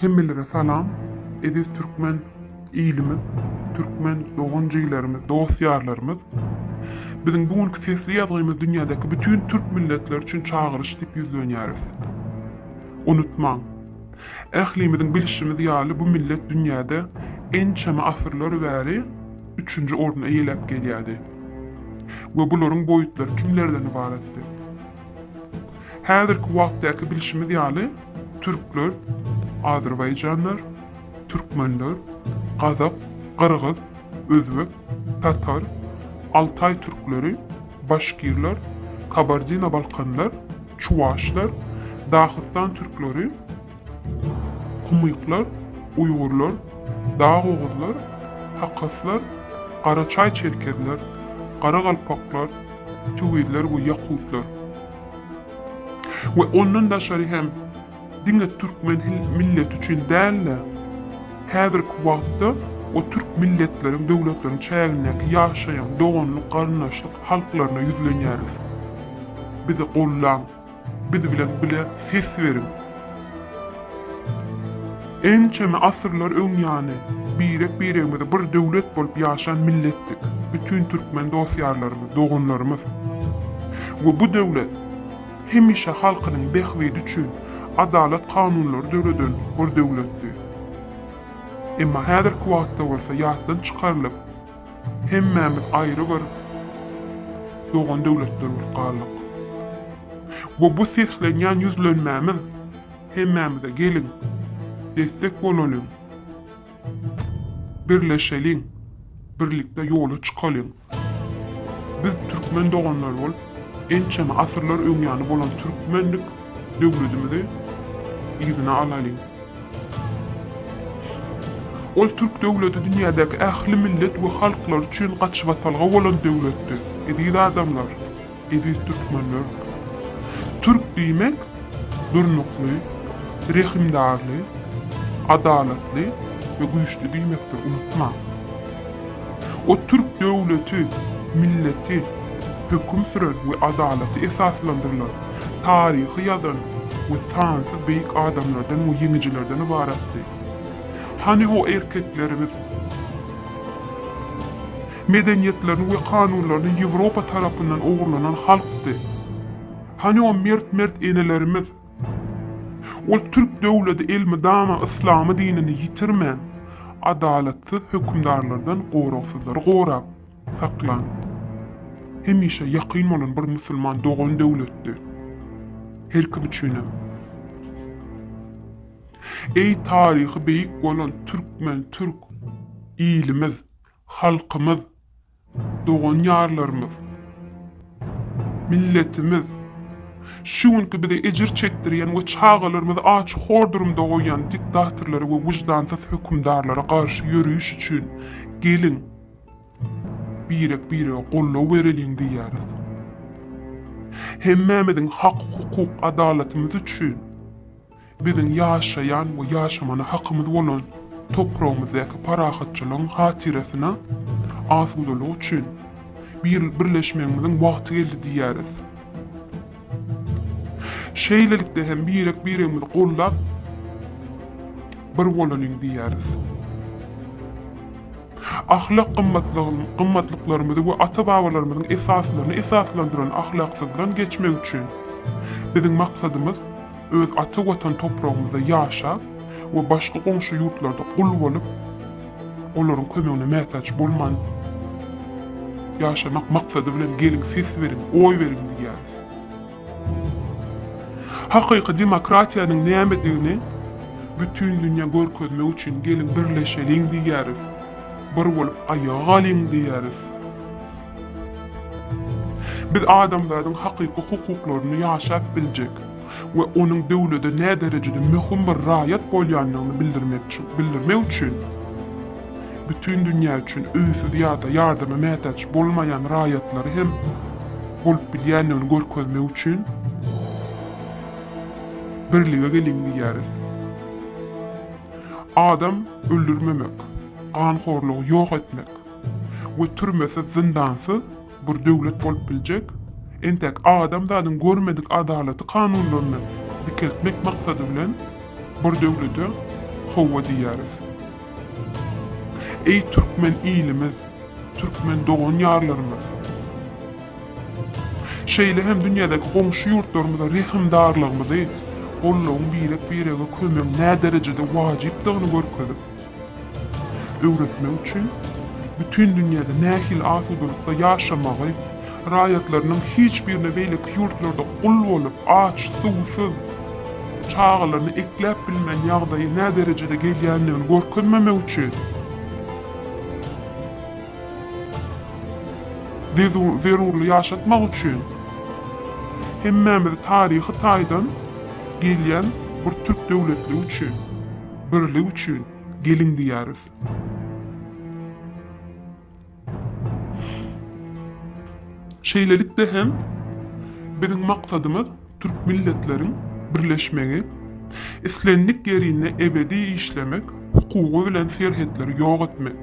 Hemmelere salam eziz türkmen ilimiz türkmen dogan jiglerimiz dost ýarlarymyz Biziň bu günki sesli ýazgymyz dünýädäki bütin türk milletleri üçin çagyryş diýip ýüzlenýäris. Unutmaň, ählimiziň bilşimiz ýaly bu millet dünýäde ençeme asyrlar bäri üçünji orny eýeläp gelýärdi we bularyň boýutlary kimlerden ybaratdy? Häzirki wagtdaky bilşimiz ýaly, türkler, azerbaýjanlar, türkmenler, gazak, gyrgyz, özbek, tatar, altaý türkleri, başkirler, kabardino-balkanlar, çuwaşlar, dahystan türkleri, Kumyklar, uýgurlar, dagoguzlar, hakaslar, garaçaý-çerkezler, garagalpaklar, tüwizler we ýakutlar we ondan daşary hem diňe türkmen milleti üçin däl-de, häzirki wagtda o türk milletleriň, döwletleriň çägindäki ýaşaýan doganlyk-garyndaşlyk halklaryna ýüzlenýäris. Bizi gollaň! Biz bilen bile ses beriň. Ençeme asyrlar öň ýany birek biregimize bir döwlet bolup ýaşan milletdik. Bütin türkmen dost ýarlarymyz, doganlarymyz we bu döwlet hemişe halkynyň bähbidi üçin adalat kanunlary döreden bir döwletdi. Emma häzirki wagtda bolsa ýatdan çykarylyp, Hemmämiz aýry bir dogan döwletler bolup galdyk. We bu seslenýän ýüzlenmämiz hemmämize geliň, destek bolalyň, birleşeliň, birlikde ýola çykalyň. Biz türkmen doganlary bolup, ençeme asyrlar öňýany bolan türkmenlik Döwletimizi yzyna alalyň! Ol türk döwleti dünýädäki ähli millet we halklar üçin gaçybatalga bolan döwletdir. Eziz adamlar, eziz türkmenler! Türk diýmek, durnukly, rehimdarly, adalatly we güýçli diýmekdir, unutmaň! O türk döwleti, milleti, höküm süren we adalaty esaslandyrylan, taryhy ýazan we sansyz beýik adamlardan we ýeňijilerden ybaratdy. Hany o erkeklerimiz? Medeniýetlerini we kanunlaryny Ýewropa tarapyndan ogurlanan halkdy. Hany o mert-mert enelerimiz? Ol türk döwleti elmydama yslamy dinini ýitirmän, adalatsyz hökümdarlardan goragsyzlary gorap, Saklan. Hemişe ýakyn bolan bir musulman dogan döwletdi. Her kim üçinem. Eý taryhy beýik bolan türkmen, türk ilimiz, halkymyz, dogan ýarlarymyz, milletimiz, şu günki bize ejir çekdirýän we çagalarymyzy aç hor durumda goýýan diktatorlara we wyjdansyz hökümdarlara garşy ýöriş üçin geliň, Birek-birege goldaw bereliň diýýäris. Hemmämiziň hak-hukuk adalatymyz üçin biziň ýaşaýan we ýaşamana hakymyz bolan topragymyzdaky parahatçylygyň hatyrasyna asudalyk üçin bir birleşmegimiziň wagty geldi diýýäris. Şeýlelikde hem birek-biregimizi goldap, bir bolalyň diýýäris. Ahlak gymmatlygyny, gymmatlyklarymyzy we ata-babalarymyzyň esaslaryny esaslandyran ahlaksyzdan geçmek üçin, biziň maksadymyz öz ata Watan topragymyzda ýaşap we başga goňşy ýurtlarda gul bolup, olaryň kömegine mätäç bolman ýaşamak maksady bilen geliň ses beriň, oý beriň diýýäris. Hakyky demokratiýanyň nämedigini bütin dünýä görkezmek üçin geliň birleşeliň diýýäris, bir bolup aýaga galyň diýýäris. Biz adamzadyň hakyky hukuklaryny ýaşap biljek we onuň döwlede näderejede möhüm bir raýat bolýandygyny bildirmek üçin, bütin dünýä üçin öýsüz ýa-da ýardama mätäç bolmaýan raýatlary hem bolup bilýändigini görkezmek üçin birlige geliň diýýäris. Adam öldürmemek, ganhorlugy ýok etmek we türmesiz-zyndansyz Bir döwlet bolup biljek. Entäk adamzadyň görmedik adalaty kanunlaryny dikeltmek maksady bilen bir döwlete howwa diýýäris. Eý türkmen ilimiz, türkmen dogan-ýarlarymyz! Şeýle hem dünýädäki goňşy ýurtlarymyza rehimdarlygymyzy, gollagyň birek-birege kömegiň näderejede wajypdygyny görkezip, öwretmek üçin bütin dünýäde nähili asudalykda ýaşamagy, raýatlarynyň hiç birine beýleki ýurtlarda gul bolup, aç, suwsuz, çagalaryny ekläp bilmän ýagdaýy nä derejede gelýändigini görkezmemek üçin we zerurly ýaşatmak üçin hemmämizi taryhy taýdan gelýän bir türk döwletligi üçin. Birlik üçin geliň diýýäris. Şeýlelikde hem biziň maksadymyz türk milletleriň birleşmegi, islendik ýerinde ebedi işlemek hukugy bilen serhetleri ýok etmek,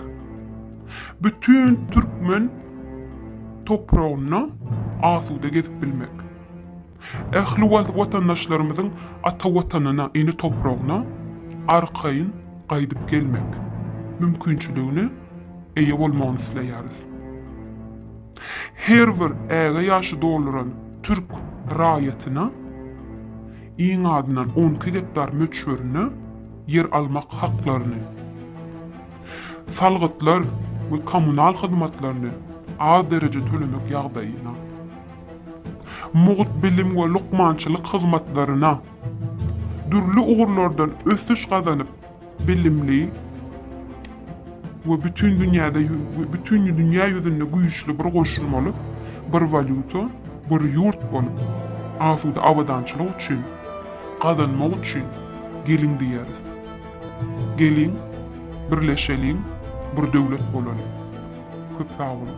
bütin türkmen topragynda asuda gezip bilmek. Ähli wagt watandaşlarymyzyň ata Watanyna, ene topragyna arkaýyn gaýdyp gelmek mümkinçiligine eýe bolmagyny isleýäris. Her bir äge ýaşy dolduran türk raýatyna iň azyndan on iki gektar möçberinde ýer almak haklaryny, salgytlar we kommunal hyzmatlaryny az derejede tölemek ýagdaýyna, mugt bilim we lukmançylyk hyzmatlaryna, dürli ugurlardan ösüş gazanyp, bilimli we bütin dünýäde bütin dünýä ýüzünde güýçli bir goşulmaly bir walýuta, bir ýurt bolup, asuda abadançylyk üçin, gazanmak üçin geliň diýeris. Geliň, birleşeliň, bir döwlet bolalyň. Köp sag boluň!